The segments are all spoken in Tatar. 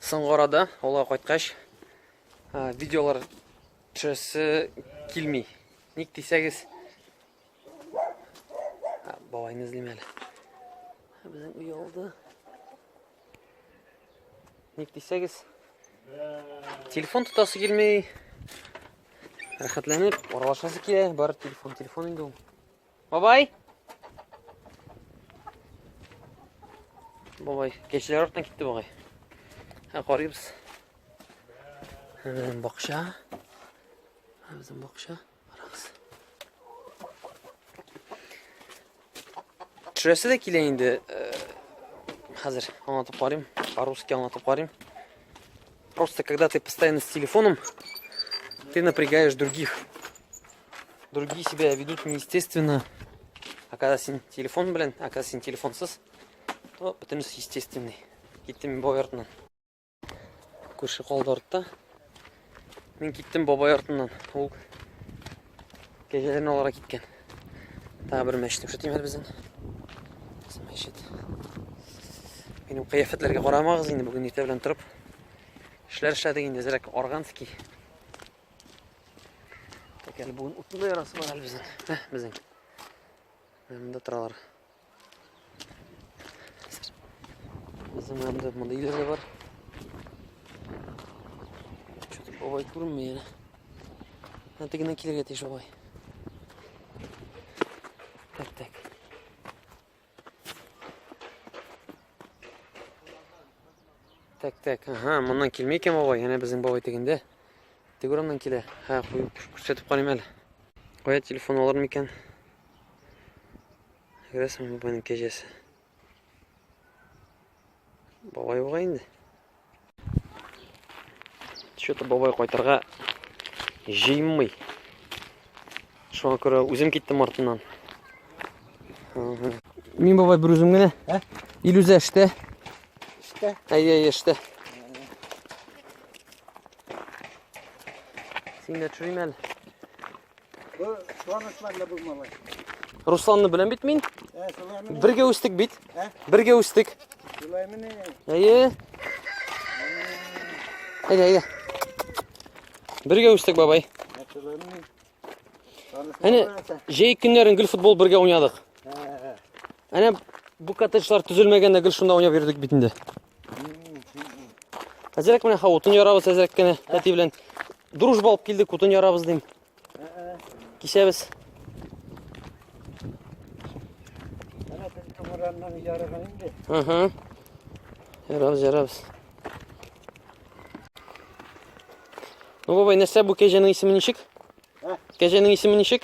Соңгы арада авылга кайткач, видеолар төшәсе килми. Ник дисәгез, бабайны эзлим әле. Безнең өй алды. Ник дисәгез, телефон тотасы килми. Рәхәтләнеп, аралашасы килә, бар телефон, телефон инде ул. Бабай! Бабай, кешеләр артына китте бабай. Һә карыйбыз. Безнең бакча. Безнең бакча. Карагыз. Төшерәсе дә килә инде. Хәзер аңлатып карыйм. По-русски аңлатып карыйм. Просто когда ты постоянно с телефоном, ты напрягаешь других. Другие себя ведут неестественно. А когда син телефон, блин, а когда син телефон сыз, то потому что естественный. Киттим бабай артынан. Күрше калды артта. Мин киттем бабай артынан. Ул кәҗәләрне алара киткән. Тағы бер мәчет күрсәтим әле безнең. Мәчет. Минем кыяфәтләргә карамагыз инде бүген иртә белән торып. Эшләр эшләдек инде, зрәк органский. Тәкәл буын утында ярасы бар әле безнең. Ә, безнең. Монда торалар. Безнең монда монда илер дә бар. Чөтеп бабай күренмей әле. Ә тегеннән килергә тиеш бабай. Так, так. Так, так, ага, моннан килмей икән бабай, әнә безнең бабай тегендә. Теге урамнан килә. Ха, куеп күрсәтеп карыйм әле. Кая телефон алырмы икән? Грәсем бабайның кәҗәсе. Бабай буга инде. Что-то бабай кайтырга җыймый. Шуңа күрә үзем киттем артыннан. Мин бабай бер үзем генә. Ә? Илүзә эштә. Эштә. Әйе, әйе, эштә. Син дә төшерим әле. Бу Руслан бу малай. Русланны беләм бит мин. Ә, шулай мени. Бергә үстек бит. Ә? Бергә үстек. Шулай мени. Әйе. Әйдә, әйдә. Бергә үстек, бабай. Ә, шулай мени. Әне, җәй көннәрен гел футбол бергә уйнадык. Әнә бу коттеджлар төзелмәгәндә гел шунда уйнап йөрдек бит инде. Әзрәк менә хавытын ярабыз әзрәк кенә әти белән. Дружба алып килдек, утын ярабыз дим. Кичәбез. Әнә тезгә мораннан ярыган инде. Ага. Ярабыз, ярабыз. Ну, бабай, нәрсә бу кәҗәнең исеме ничек? Кәҗәнең исеме ничек?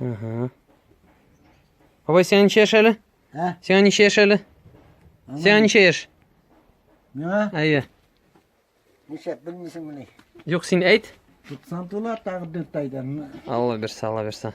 Ага. Бабай, сиңа ничә яшь әле? Ә? Сиңа ничә яшь әле? Сиңа ничә яшь? Миңа? Әйе. Ничә белмисең мени? Юк, син әйт. 90 тула тагы 4 айдан. Алла бирсә, Алла бирсә.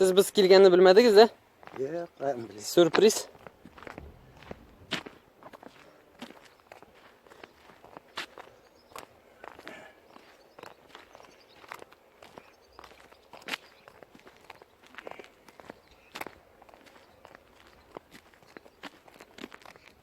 Сез без килгәнне белмәдегез, дә? Юк, каян беләм. Сюрприз.